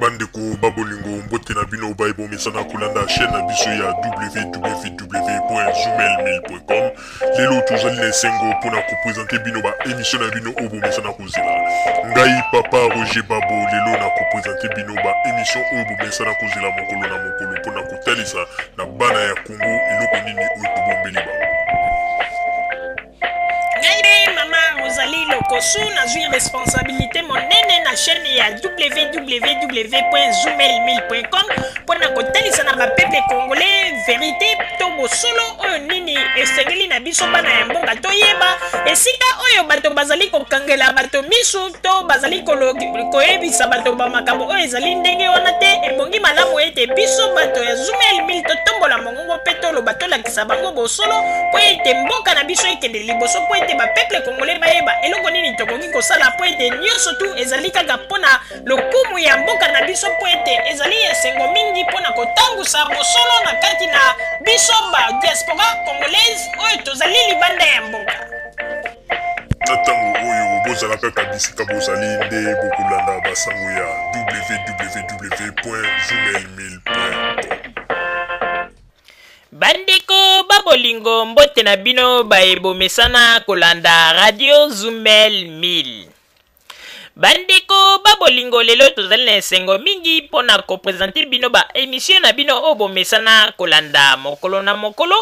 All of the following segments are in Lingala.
bandeko ba bolingo mbote na bino baye bomesana kolanda chaîne na biso ya www.zumelmail.com lelo tozali na esengo mpo na kopresente bino baemisio na bino oyo bomesana kozela ngai papa roger babo lelo na kopresente bino baemisio oyo bomesana kozela mokolo na mokolo mpo na kotalisa na bana ya kongo eloko nini oyo tobombeli bango Ngai mama Rosalie Lokosu nazwi responsabilité monene na chaîne ya www.zumel1000.com mpo na kotalisa na bapeple congolais verite to bosolo oyo nini esengeli na biso bana ya mboka toyeba esika oyo bato bazali kokangela bato miso to bazali koyebisa bato bamakambo oyo ezali ndenge wana te ebongi malamu ete biso bato ya Zumel 1000 totombola mongo Bongo mpe toloba, tolakisa bango bosolo, mpo ete mboka na biso ekende liboso, mpo ete bapeuple kongole bayeba eloko nini tokoki kosala, mpo ete nyonso tu ezali kaka mpo na lokumu ya mboka na biso, mpo ete ezali esengo mingi mpo na kotangusa bosolo na kati na biso ba diaspora congolaise oyo tozali libanda ya mboka. Na ntango oyo bozala kaka bisika bozali nde bokolanda basango ya www.journalmail.com. Bandeko ba bolingo mbote na bino baye bomesana kolanda Radio Zumel 1000. bandeko ba bolingo lelo tozali na esengo mingi mpo na kopresente bino ba emisio na bino oyo bomesana kolanda mokolo na mokolo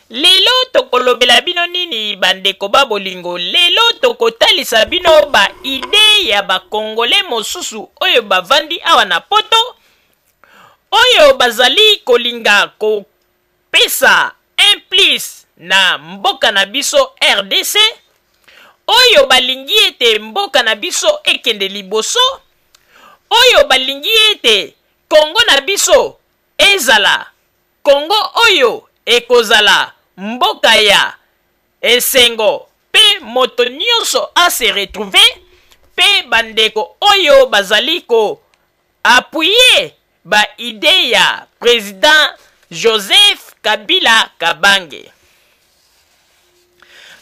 lelo tokolobela bino nini bandeko ba bolingo lelo tokotalisa bino ba ide ya bakongole mosusu oyo bavandi awa na poto oyo bazali kolinga ko Pesa un plus na mboka na biso rdc oyo balingi ete mboka na biso ekende liboso, oyo balingi ete Congo na biso ezala Congo oyo ekozala mboka ya esengo pe moto nionso a se retrouver pe bandeko oyo bazali ko Appuyer ba idees ya President Joseph Kabila Kabange.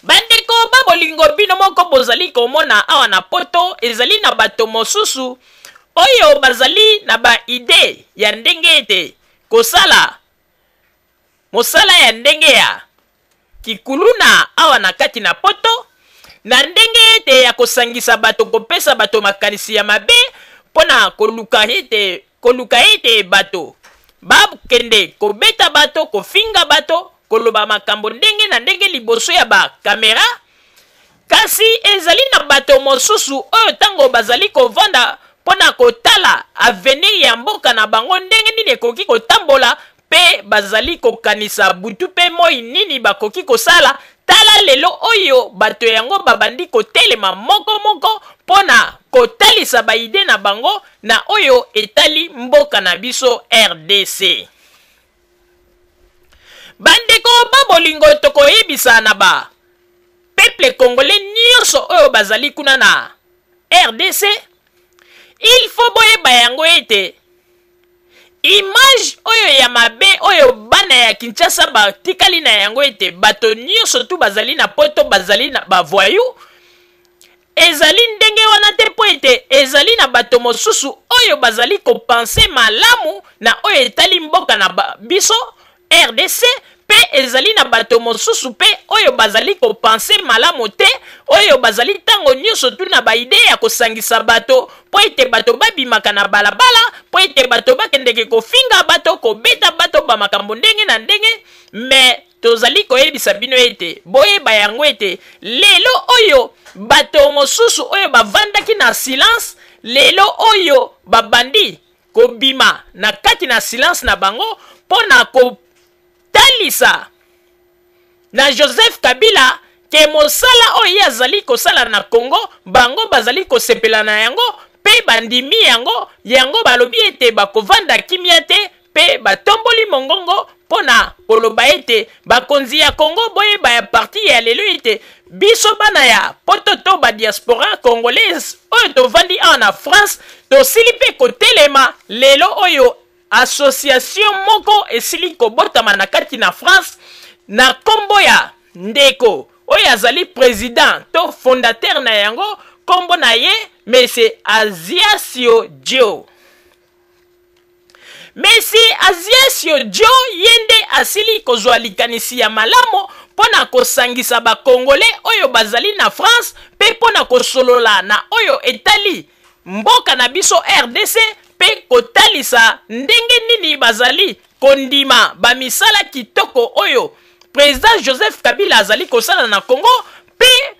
Bandeko ba bolingo bino moko bozali komona awa na poto ezali na bato mosusu oyo bazali na ba idee ya ndenge ete kosala mosala ya ndenge ya kikuluna awa na kati na poto na ndenge ete ya kosangisa bato kopesa bato makanisi ya mabe mpo na koluka ete koluka ete bato bakende kobeta bato kofinga bato koloba makambo ndenge na ndenge liboso ya bakamera kasi ezali na bato mosusu oyo ntango bazali kovanda mpo na kotala avenir ya mboka na bango ndenge nini ekoki kotambola mpe bazali kokanisa butu mpe moi nini bakoki kosala, tala lelo oyo bato yango babandi kotelema moko moko mpo na kotalisa ba idees na bango na oyo etali mboka na biso rdc. Bandeko ba bolingo tokoyebisa na ba peuple congolais nyonso oyo bazali kuna na rdc, il faut boyeba yango ete Image oyo ya mabe oyo bana ya Kinshasa batikali na yango ete bato nyonso tu bazali na poto bazali na bavoyou ezali ndenge wana te mpo ete ezali na bato mosusu oyo bazali kopense malamu na oyo etali mboka na biso rdc mpe ezali na bato mosusu mpe oyo bazali kopanse malamu te, oyo bazali ntango nyonso tu na baide ya kosangisa bato mpo ete bato babimaka na balabala, mpo ete bato bakendeke kofinga bato, kobeta bato, bamakambo ndenge na ndenge. Mais tozali koyebisa bino ete boyeba yango ete lelo oyo bato mosusu oyo bavandaki na silence lelo oyo babandi kobima na kati na silence na bango mpo na kotalisa na joseph kabila ke mosala oyo ye azali kosala na congo bango bazali kosepela na yango mpe bandimi yango yango balobi ete bakovanda kimia te mpe batomboli mongongo mpo na koloba ete bakonzi ya Congo boyeba ya parti ya lelo ete biso bana ya poto to ba diaspora congolaise oyo tovandi awa na France tosili mpe kotelema lelo oyo association moko esili kobotama na kati na France na nkombo ya ndeko oyo azali president to fondateur na yango nkombo na ye mese Aziasio Joe mesi aziesio jo ye nde asili kozwa likanisi ya malamu mpo na kosangisa bakongole oyo bazali na france mpe mpo na kosolola na oyo etali mboka na biso rdc mpe kotalisa ndenge nini bazali kondima bamisala kitoko oyo president joseph kabila azali kosala na congo mpe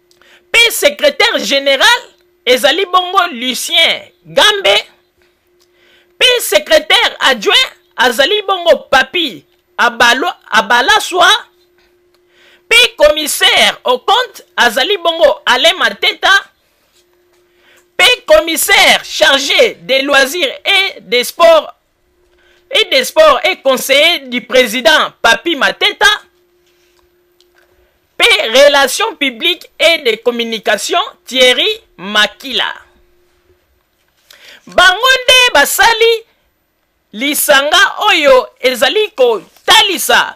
mpe secretaire general ezali bongo lucien gambe mpe secretaire adjoint azali bongo papi abalo abalaswa mpe commissaire au compte azali bongo alain mateta mpe commissaire chargé des loisirs et des sports et des sports et conseiller du président Papi Mateta, P. Relations publiques et de communication Thierry Makila. Bango nde basali lisanga oyo ezali kotalisa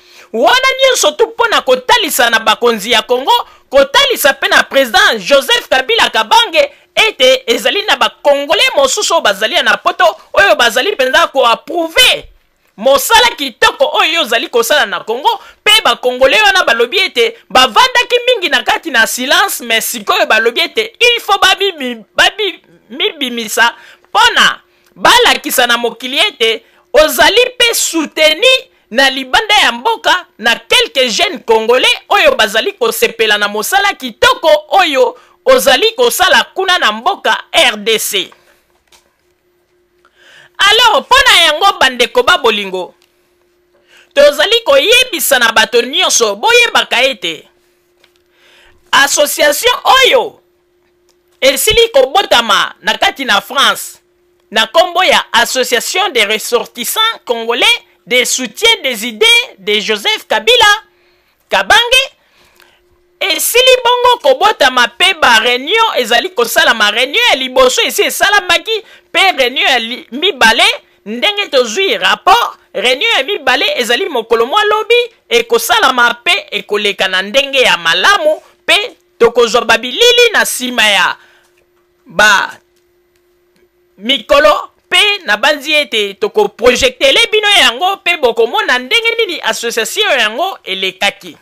Wana nyonso tu mpo na kotalisa na bakonzi ya Congo, kotalisa mpe na president Joseph Kabila Kabange ete ezali na ba Congolais mosusu oyo bazali na poto oyo bazali mpenza ko approuver mosala kitoko oyo ozali kosala na congo mpe bakongole wana balobi ete bavandaki mingi na kati na silence me sikoyo balobi ete il faut babimibimisa babi, mpo na balakisa na mokili ete ozali mpe soutenu na libanda ya mboka na quelques jeunes congolais oyo bazali kosepela na mosala kitoko oyo ozali kosala kuna na mboka rdc alors mpo na yango bandeko ba bolingo tozali koyebisa na bato nyonso boyebaka ete association oyo esili kobotama na kati na France na kombo ya Association des ressortissants congolais des soutiens des idées de Joseph Kabila Kabange esili bongo kobotama pe ba reunion ezali kosalama reunion ya liboso esi esalamaki pe reunion ya mibale ndenge tozwi rapport reunion ya mibale ezali mokolo mwa lobi ekosalama pe ekoleka na ndenge ya malamu pe Tokozwa babilili na nsima ya ba mikolo mpe nabanzi ete tokoprojektele bino yango mpe bokomona ndenge nini associatio yango elekaki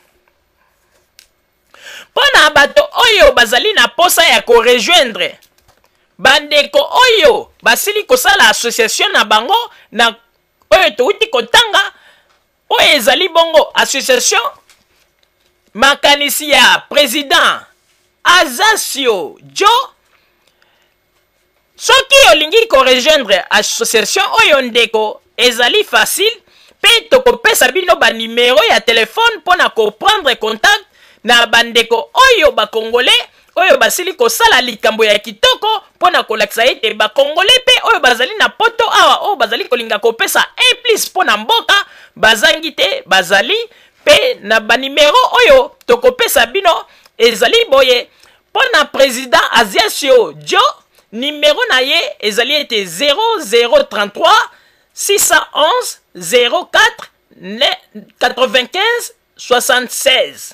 mpo na bato oyo bazali na mposa ya korejoindre bandeko oyo basili kosala associatio na bango na oyo touti kotanga oyo ezali bongo association makanisi ya president azasio jo soki olingi korejoindre association oyo ndeko ezali facile mpe tokopesa bino banimero ya telefone mpo na koprendre contact na bandeko oyo bakongole oyo basili kosala likambo ya kitoko mpo na kolakisa ete bakongole mpe oyo bazali na poto awa oyo bazali kolinga kopesa implice mpo na mboka bazangi te bazali mpe na banimero oyo tokopesa bino ezali boye mpo na president aziasio jo nimero na ye ezali ete 0033 611 04 95 76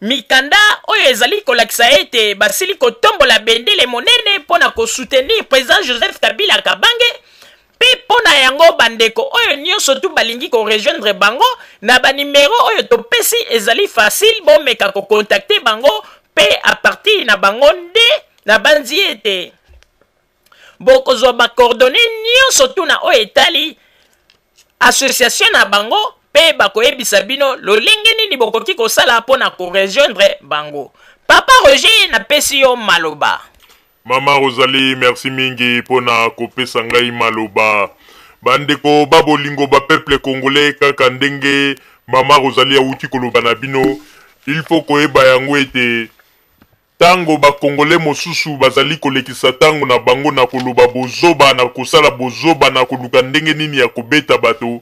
Mikanda oyo ezali kolakisa ete basili kotombola bendele monene mpo na kosutenir president Joseph Kabila Kabange mpe mpo na yango bandeko oyo nyonso tu balingi korejoindre bango na banimero oyo topesi ezali facile bomeka kokontakte bango mpe apartir na bango nde nabanzi ete bokozwa bakordone nyonso tuna oyo etali association na bango mpe bakoyebisa bino lolenge nini bokoki kosala mpo na korejoindre bango papa roger napesi yo maloba mama rozali merci mingi mpo na kopesa ngai maloba bandeko ba bolingo ba peuple congolais kaka ndenge mama rozali awuti koloba na bino il faut koyeba yango ete Tango ba congolais mosusu bazali kolekisa tango na bango na koloba bozoba, na kosala bozoba, na koluka ndenge nini ya kobeta bato,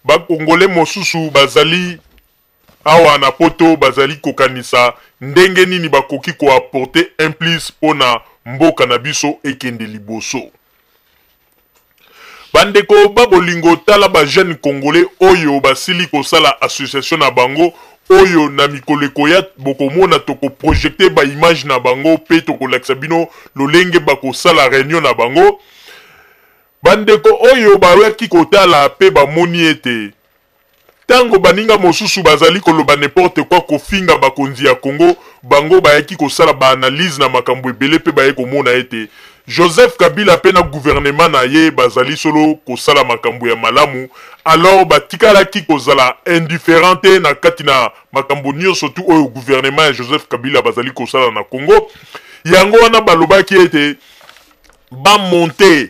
ba congolais mosusu bazali awa na poto bazali kokanisa ndenge nini bakoki ko apporter un plus pona mboka na biso ekende liboso. Ba ndeko ba bolingo tala ba jeunes congolais oyo basili kosala association na bango oyo na mikolo ekoya bokomona toko projecter ba images na bango pe tokolakisa bino lolenge bakosala reunion na bango. Ba ndeko oyo bayaki kotala pe bamoni ete. Tango baninga mosusu bazali koloba n'importe quoi kofinga bakonzi ya Congo, bango bayaki kosala ba analyses na makambo ebele mpe baye komona ete Joseph Kabila mpe na gouvernement na ye bazali solo kosala makambo ya malamu, alors batikalaki kozala indifferents te na kati na makambo nionso tout oyo gouvernement ya Joseph Kabila bazali kosala na Congo. Yango wana balobaki ete ba monter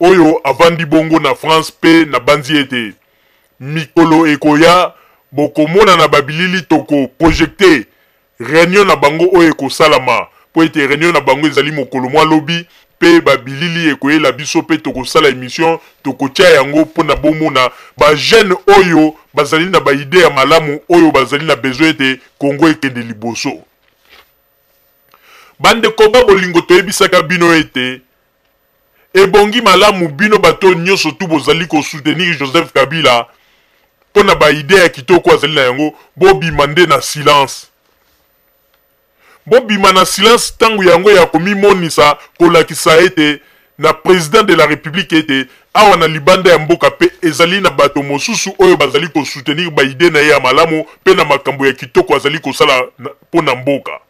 oyo avandi bongo na France mpe nabanzi ete mikolo ekoya bokomona na babilili toko projecter reunion na bango oyo ekosalama mpo ete reunion na bango ezali mokolo mwa lobi mpe babilili ekoyela biso mpe tokosala emission tokotia yango mpo na bomona ba jeune oyo bazali na ba idee ya malamu oyo bazali na besoin ete Congo ekende liboso. Bandeko ba bolingo toyebisaka bino ete Ebongi malamu bino bato oyo nyoso tout bozali ko soutenir Joseph Kabila mpo na ba idees ya kitoko azali na yango, bobima nde na silence. Bobima na silence tango yango ya komimonisa, kolakisa ete na President de la Republique ete awa na libanda ya mboka mpe ezali na bato mosusu oyo bazali ko soutenir ba idees na ye ya malamu mpe na makambo ya kitoko azali kosala mpo na mboka.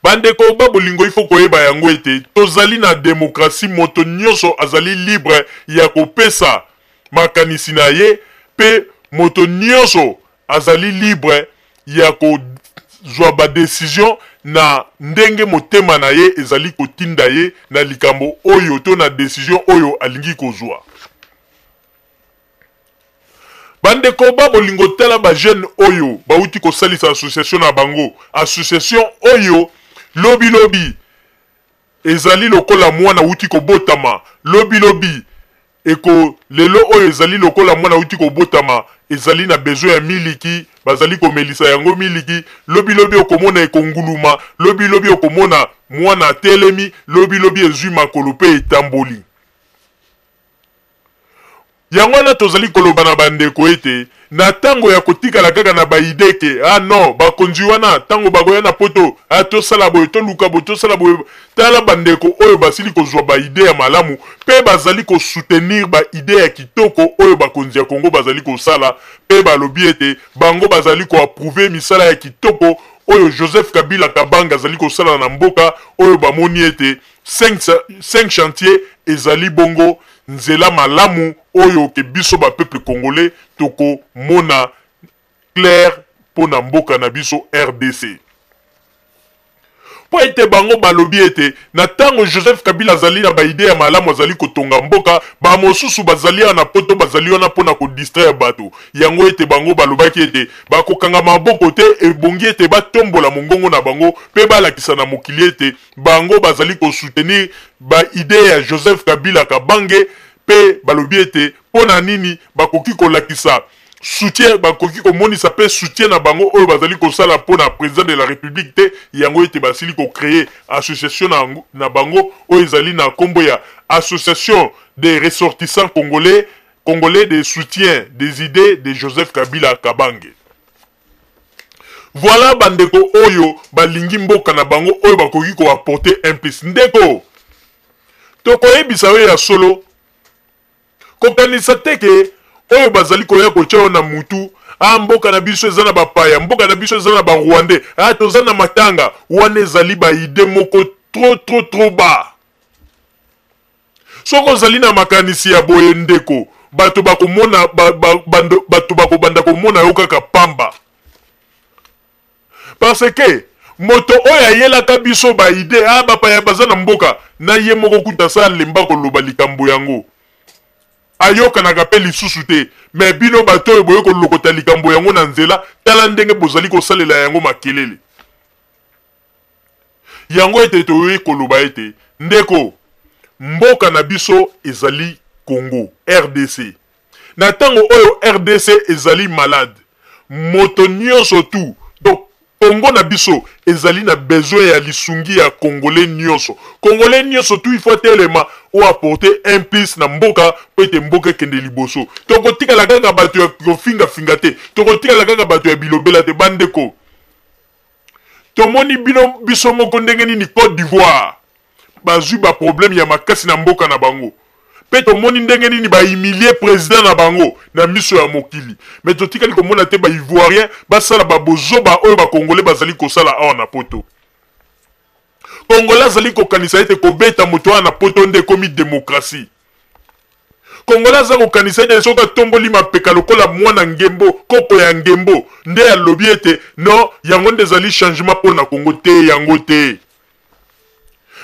Bandeko ba bolingo, il faut koyeba yango ete tozali na democratie, moto nyoso azali libre ya kopesa makanisi na ye mpe moto nyoso azali libre ya kozwa ba decision na ndenge motema na ye ezali kotinda ye na likambo oyo to na decision oyo alingi kozwa. Bandeko ba bolingo tala ba jeune oyo bawuti kosalisa association na bango. Association oyo lobi lobi ezali lokola mwana awuti kobotama. Lobi lobi eko lelo oyo ezali lokola mwana awuti kobotama ezali na besoin ya miliki bazali komelisa yango miliki. Lobi lobi okomona eko nguluma. Lobi lobi okomona mwana atelemi. Lobi lobi ezui makolo pe etamboli. Yango wana tozali koloba na bandeko ete na ntango ya kotikala kaka na ba idees que ah non bakonzi wana ntango bakoya na poto ah tosala boye, toluka boye, tosala boye, tala bandeko oyo basili kozua ba idees ya malamu mpe bazali ko soutenir ba idees ya kitoko oyo bakonzi ya Congo bazali kosala mpe balobi ete bango bazali ko approuver misala ya kitoko oyo Joseph Kabila Kabange azali kosala na mboka oyo bamoni ete Cinq, cinq chantier ezali bongo nzela malamu oyo ke biso ba peuple congolais toko mona clair mpo na mboka na biso rdc mpo ete bango balobi ete na ntango joseph kabila azali na baide ya malamu azali kotonga mboka bamosusu bazali awa na poto bazali wana mpo na kodistraire bato yango ete bango balobaki ete bakokanga maboko te ebongi ete batombola mongongo na bango mpe balakisa na mokili ete Bango bazali ko soutenir ba idees ya Joseph Kabila Kabange mpe balobi ete mpo na nini bakoki kolakisa soutien bakoki komonisa mpe soutien na bango oyo bazali kosala mpo na president de la republique te yango ete basili ko creer association na, na bango oyo ezali na nkombo ya association des ressortissants congolais congolais de soutien des idees de Joseph Kabila Kabange. Voilà ba ndeko oyo balingi mboka na bango oyo bakoki ko apporter un plus. Ndeko, tokoyebisa yo ya solo, kokanisa te ke oyo bazali koya kotya yo na mutu ah mboka na biso eza na bapaya mboka na biso eza na barwandais ah toza na matanga wana ezali baide moko trop trop trop bas Soki ozali na makanisi ya boye, ndeko, bato bakomona, ba, ba, bando, bato bakobanda komona yo kaka pamba. Parce que moto oyo ayelaka biso ba idee, ah, bapaya baza na mboka, na ye moko kuta sa alemba koloba likambo yango. Ayokanaka pe lisusu te. Mais bino bato oyo boye kolokota likambo yango na nzela, tala ndenge bozali kosalela yango makelele. Yango ete toyoki koloba ete, Ndeko, mboka na biso ezali Congo, rdc. Na ntango oyo rdc ezali malade, moto nionso tout, donc Congo na biso ezali na besoin ya lisungi ya Congolais nionso. Congolais nionso tout il faut atelema ou apporter un plus na mboka mpo ete mboka ekende liboso. Tokotikala kaka bato ya kofinga finga te, tokotikala kaka bato ya bilobela te bandeko. Tomoni bino biso moko ndenge nini Cote d'Ivoire bazwi ba problème ya makasi na mboka na bango pe tomoni ndenge nini ba humilie president na bango na miso ya mokili mais totikali komona te ba ivoirien basala ba bozoba oyo ba congolais bazali kosala awa na poto. Congolais azali kokanisa ete kobeta moto wana na poto nde ekomi demokrasi. Congolais aza kokanisa ete soki atomboli mapeka lokola mwana ngembo, koko ya ngembo, nde alobi ete non, yango nde ezali changement mpo na Congo. Te, yango te.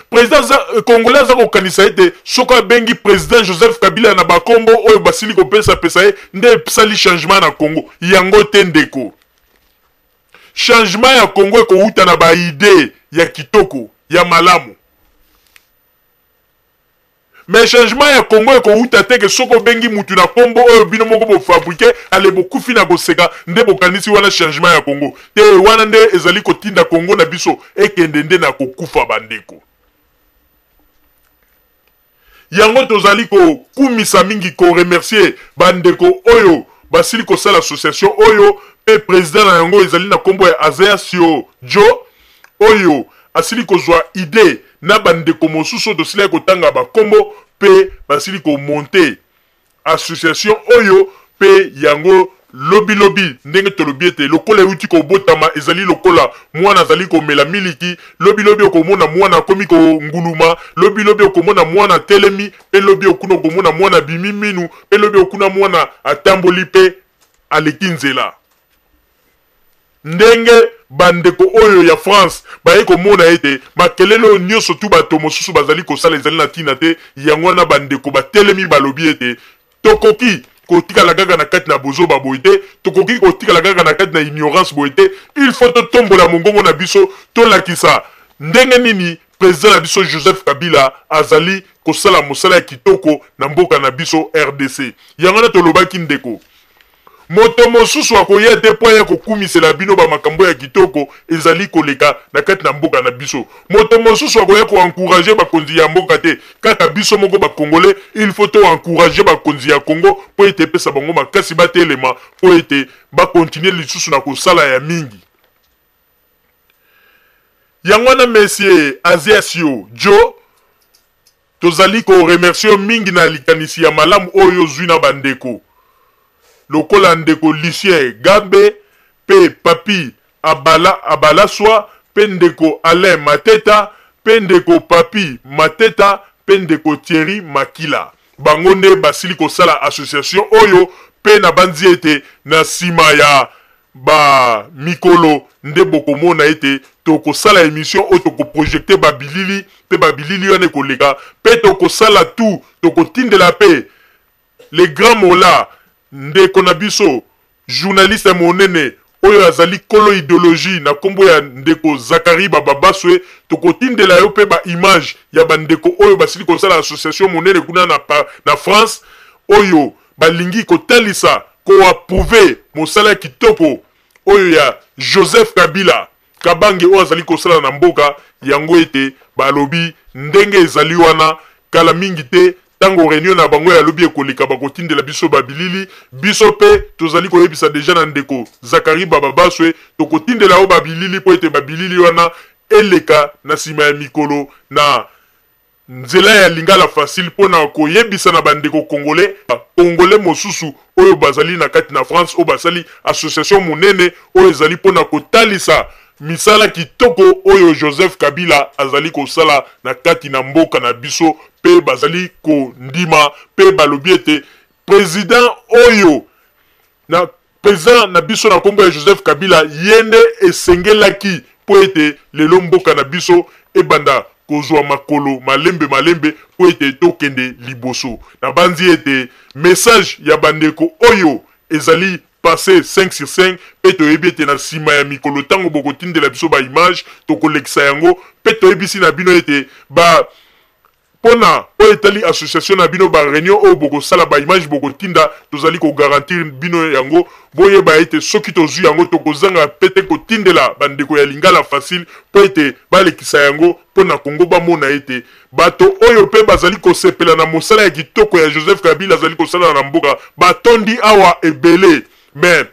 President aza, euh, Congolais aza kokanisa ete soki abengi President Joseph Kabila na bakombo oyo basili kopesa pesa ye nde esali changement na Congo. Yango te ndeko. Changement ya Congo ekowuta na ba idee ya kitoko ya malamu. Mais changement ya Congo ekowuta te ke soki obengi mutu na kombo oyo bino moko bo fabriquer ale bokufi na koseka nde bokanisi wana changement ya Congo te wana nde ezali kotinda Congo na biso ekende nde na kokufa bandeko. Yango tozali ko kumisa mingi ko remercier ba ndeko oyo basili kosala association oyo pe president na yango ezali na kombo ya Azeasio Djo oyo asili kozua idee na ba ndeko mosusu oyo tosilaki kotanga ba kombo pe basili ko monter Association oyo mpe yango lobilobi, ndenge tolobi ete lokola euti kobotama, ezali lokola mwana azali komela miliki, lobilobi okomona mwana akomi konguluma, lobilobi okomona mwana atelemi, mpe lobi okuna okomona mwana abimi minu, mpe lobi okuna mwana atamboli mpe aleki nzela. Ndenge bandeko oyo ya France bayaki komona ete makelele oyo nyonso tu bato mosusu bazali kosala ezali na ntina te, yango wana bandeko batelemi balobi ete, Tokoki kotikala kaka na kati na bozoba boye te, tokoki kotikala kaka na kati na ignorance boye te, il faut totombola mongongo na biso, tolakisa ndenge nini president na biso Joseph Kabila azali kosala mosala ya kitoko na mboka na biso rdc. Yango wana tolobaki, Ndeko, Moto mosusu akoya te mpo aya kokumisela bino bamakambo ya kitoko ezali koleka na kati na mboka na biso. Moto mosusu akoya ko encourager bakonzi ya mboka te, kaka biso moko ba Congolais. Il faut to encourager bakonzi ya Congo mpo ete epesa bango makasi batelema mpo ete ba continuer lisusu na kosala ya mingi. Yango wana monsieur Azias yo, Djo, Tozali ko remercier yo mingi na likanisi ya malamu oyo ozwi na ba ndeko lokola ndeko Lucien Gabe mpe Papy Abala Abalaswa mpe ndeko Alain Mateta mpe ndeko Papy Mateta mpe ndeko Thierry Makila. Bango nde basili kosala association oyo mpe nabanzi ete na sima ya Ba mikolo nde bokomona ete tokosala emission oyo toko projecter ba bilili pe ba bilili wana ekoleka pe tokosala tout tokotindela pe le grand Mola ndeko na biso journaliste monene oyo azali kolo ideologie na kombo ya ndeko Zacharie Bababaswe tokotindela yo pe ba images ya ba ndeko oyo basili kosala association monene kuna na France oyo balingi kotalisa ko approuver mosala kitoko oyo ya Joseph Kabila Kabange oyo azali kosala na mboka yango ete balobi ndenge ezali wana kala mingi te tango reunion na bango ya lobi ekoleka bakotindela biso ba bilili biso mpe tozali koyebisa deja na ndeko Zacharie Bababaswe tokotindela yo ba bilili mpo ete ba bilili wana eleka na sima ya mikolo na Nzela ya lingala facile pona ko yebisa na ba ndeko congolais ba congolais mosusu oyo ba zali na kati na France oyo ba sali association monene oyo ezali pona ko talisa misala kitoko oyo Joseph Kabila azali ko sala na kati na mboka na biso pe ba zali ko ndima pe ba lobi ete president oyo na President na biso na kombo ya Joseph Kabila ye nde esengelaki mpo ete lelo mboka na biso ebanda kozua makolo malembe malembe mpo ete tokende liboso. Nabanzi ete message ya ba ndeko oyo ezali passe cinq sur cinq mpe toyebi ete na sima ya mikolo tango bokotindela biso ba images tokolekisa yango mpe toyebisi na bino ete ba Pona oyo etali association na bino, ba reunion oyo bokosala, ba images bokotinda, tozali ko garantir bino yango. Boyeba ete soki tozui yango, tokozanga pe te kotindela ba ndeko ya Lingala Facile po ete balekisa yango po na Congo, bamona ete bato oyo pe bazali kosepela na mosala ya kitoko ya Joseph Kabila azali kosala na mboka batondi awa ebele. Mais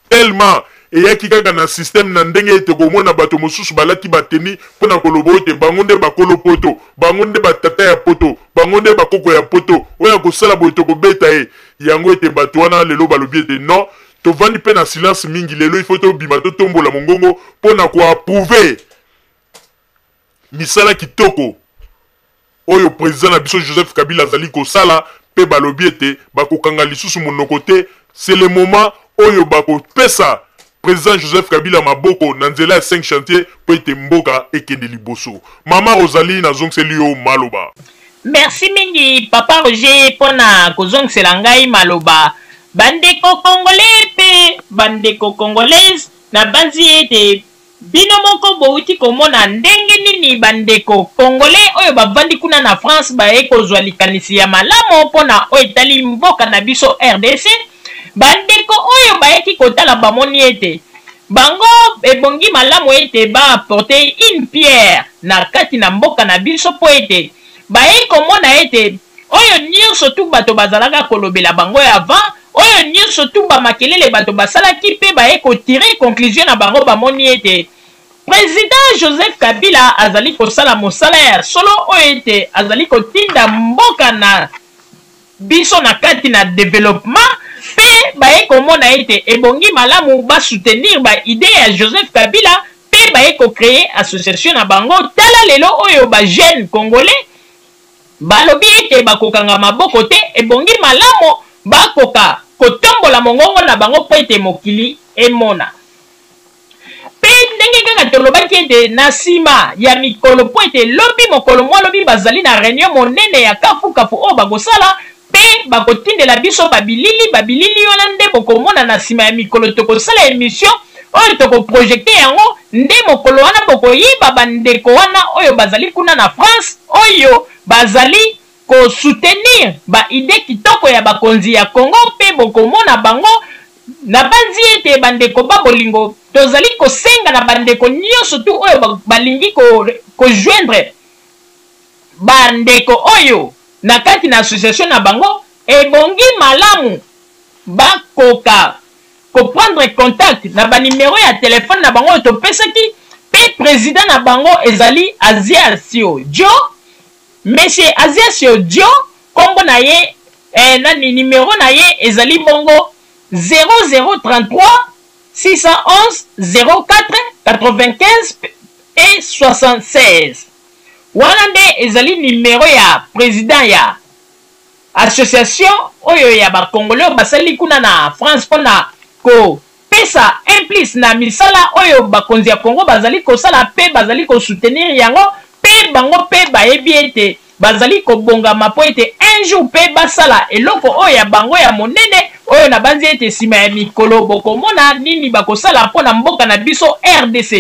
tellement eyaki kaka na système na ndenge ete okomona bato mosusu balati bateni mpo na koloba oyo te bango nde bakolo poto bango nde batata ya poto bango nde bakoko ya poto oyo akosala boye tokobeta ye yango ete bato wana lelo balobi ete non tovandi mpe na silence mingi lelo ifo tobima totombola mongongo mpo na koapprouve misala kitoko oyo president na biso Joseph Kabila azali kosala mpe balobi ete bakokanga lisusu monoko te, c'est le moment oyo bakopesa president Joseph Kabila maboko na nzela ya cinq chantiers mpo ete mboka ekende liboso. Mama Rosalie nazongiseli yo maloba. Merci mingi papa Roger mpo na kozongisela ngai maloba. Bandeko congolais mpe bandeko congolaise nabanzi ete. Bino moko bowuti komona ndenge nini ba ndeko congolais oyo bavandi kuna na France baye kozwa likanisi ya malamo mpo na oyo etali mboka na biso rdc. Ba ndeko oyo bayaki kotala bamoni ete bango ebongi malamu ete ba apporter une pierre na kati na mboka na biso mpo ete baye komona ete Oyo nyonso tout bato bazalaka kolobela bango ya avant, oyo nyonso tout ba makelele bato basalaki mpe baye ko tirer conclusion na bango bamoni ete President Joseph Kabila azali kosala mosala ya solo oyo ete azali kotinda mboka na biso na kati na developpement mpe baye komona ete ebongi malamu ba soutenir ba idees ya Joseph Kabila mpe baye ko creer association na bango. Tala lelo oyo ba jeunes congolais. Balobi ete bakokanga maboko te, ebongi malamu bakoka kotombola mongongo na bango mpo ete mokili emona. Mpe ndenge kaka tolobaki ete na nsima ya mikolo, mpo ete lobi, mokolo mwa lobi, bazali na reunion monene ya kafukafu oyo bakosala, Pe bakotindela biso ba bilili, ba bilili wana nde bokomona na sima ya mikolo tokosala emission oyo toko projecter yango, nde mokolo wana bokoyeba ba ndeko wana oyo bazali kuna na France oyo bazali ko soutenir ba idees kitoko ya bakonzi ya Congo pe bokomona bango, nabanzi ete ba ndeko ba bolingo tozali kosenga na ba ndeko nionso tout oyo balingi ko joindre Ba ndeko oyo na kati na association na bango ebongi malamu ba koka ko prendre contact na ba numero ya telephone na bango oyo to pesaki pe president na bango ezali Aziasio Djo, monsieur Aziasio Djo kombo na ye eh, nani numero na ye ezali bongo 0033 611 04 95 et 76. Wana nde ezali numero ya president ya association oyo ya ba congolais oyo basali kuna na France mpo na ko pesa un plus na misala oyo bakonzi ya Congo bazali kosala mpe bazali ko soutenir yango mpe bango mpe bayebi ete bazali kobongama mpo ete un jour mpe basala eloko oyo ya bango ya monene oyo nabanzi ete nsima ya mikolo bokomona nini bakosala mpo na mboka na biso rdc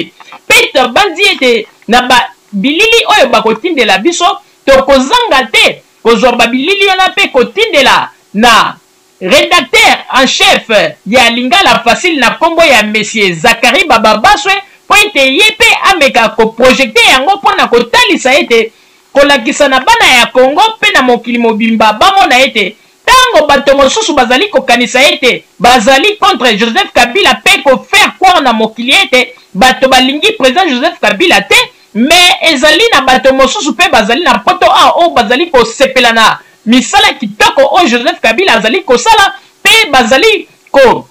mpe nabanzi ete na ba bilili oyo bakotindela biso, tokozanga te kozwa ba bilili wana mpe kotindela na Redacteur en chef ya Lingala Facile na kombo ya Monsieur Zacharie Bababaswe mpo ete ye mpe ameka ko projecter yango mpo na kotalisa ete kolakisa na bana ya Congo mpe na mokili mobimba bamona ete Tango bato mosusu bazali kokanisa ete bazali contre Joseph Kabila mpe ko faire croire na mokili ete bato balingi President Joseph Kabila te, mais ezali na bato mosusu mpe bazali na poto awa oyo bazali kosepela na misala kitoko oyo Joseph Kabila azali kosala mpe bazali ko.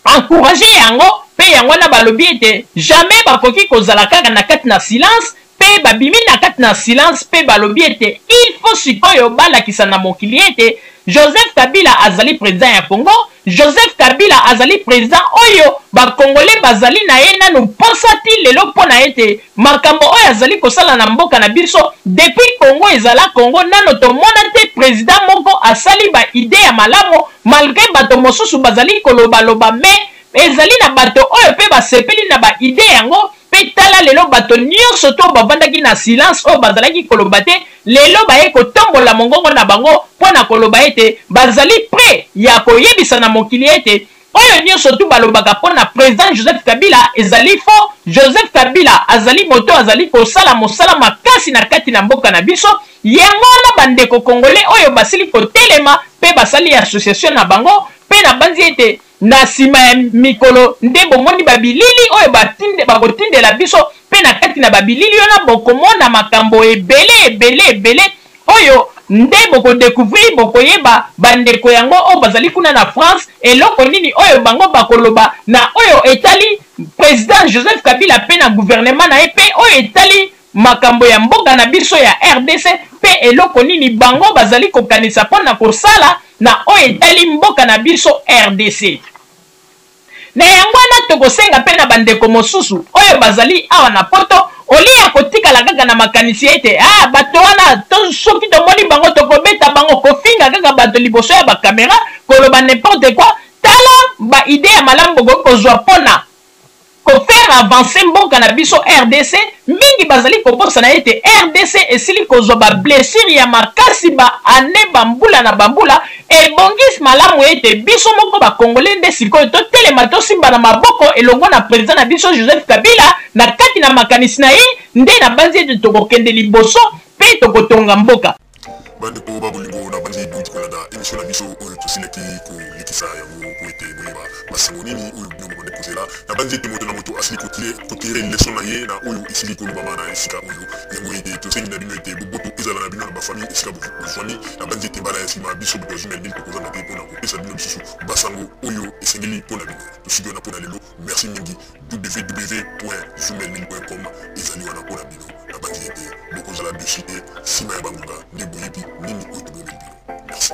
encourager yango pe yango wana balobi ete jamais bakoki kozala kaka na kati na silence pe babimi na kati na silence pe balobi ete il faut sikoyo balakisa na mokili ete Joseph Kabila azali president ya Congo, Joseph Kabila azali president oyo ba congolais bazali na ye nanu posa ti lelo pona ete Makambo oyo azali kosala na mboka na biso depuis Congo ezala Congo nano tomona te president moko asali ba idee ya malamu malgre bato mosusu bazali koloba loba mais ezali na bato oyo pe basepeli na ba idee yango pe tala lelo bato nionso to bavandaki na silence oyo bazalaki koloba te lelo baye kotombola mongongo na bango pona koloba ete bazali pret ya koyebisa na mokili ete Oyo nionso tout balobaka pona president Joseph Kabila ezali faux, Joseph Kabila azali moto oyo azali kosala mosala makasi na kati na mboka na biso, yango wana ba ndeko congolais oyo basili kotelema pe basali association na bango pe nabanzi ete na sima ya mikolo nde bomoni ba bilili oyo batinde bakotindela biso Mpe na kati na babilili wana bokomona makambo ebele, ebele, ebele oyo nde boko decouvrir, bokoyeba bandeko yango oyo bazali kuna na France, eloko nini oyo bango bakoloba na oyo etali President Joseph Kabila mpe na gouvernement na ye, mpe oyo etali makambo ya mboka na biso ya rdc, mpe eloko nini bango bazali kokanisa mpo na kosala na oyo etali mboka na biso rdc. Na yango wana, tokosenga mpe na bandeko mosusu oyo bazali awa na Poto, au lieu ya kotikala kaka na makanisi ete, Ah, bato wana, to, soki tomoni bango, tokobeta bango, kofinga kaka bato liboso ya ba camera, koloba n'importe quoi, tala ba idees ya malamu bokoki kozwa mpo na ko faire avancer mboka na biso rdc. Mingi bazali kobosana ete rdc esili kozwa ba blessures ya makasi ba annees, ba mbula na ba mbula, Ebongis malamu ete biso moko ba congolais nde sikoyo totelema tosimbana maboko elongo na president na biso Joseph Kabila na kati na makanisi na ye nde nabanzi ete tokokende liboso mpe tokotonga mboka. Bandeko ba bolingo nabandi bouti kolanda emission na biso oyo tosilaki kolekisa yango mpo ete boyeba masango nini oyo bino bokodecouvera nabanzi ete moto na moto asili kotire leçon na ye na oyo esili kolobama na esika oyo. Yango ete tosengi na bino ete boboto ezala na bino na bafamille esika bozwami. Nabanzi ete mbala ya nsima biso bokozwi na lili tokozanga te mpo na kopesa bino lisusu basango oyo esengeli mpo na bino. Tosiki wana mpo na lelo. Merci mingi. www.zumelin.com ezali wana mpo na bino. Nabanzi ete bokozala dosi te nsima ya bangonga nde boyebi nini oyo tobomeli bino. Merci.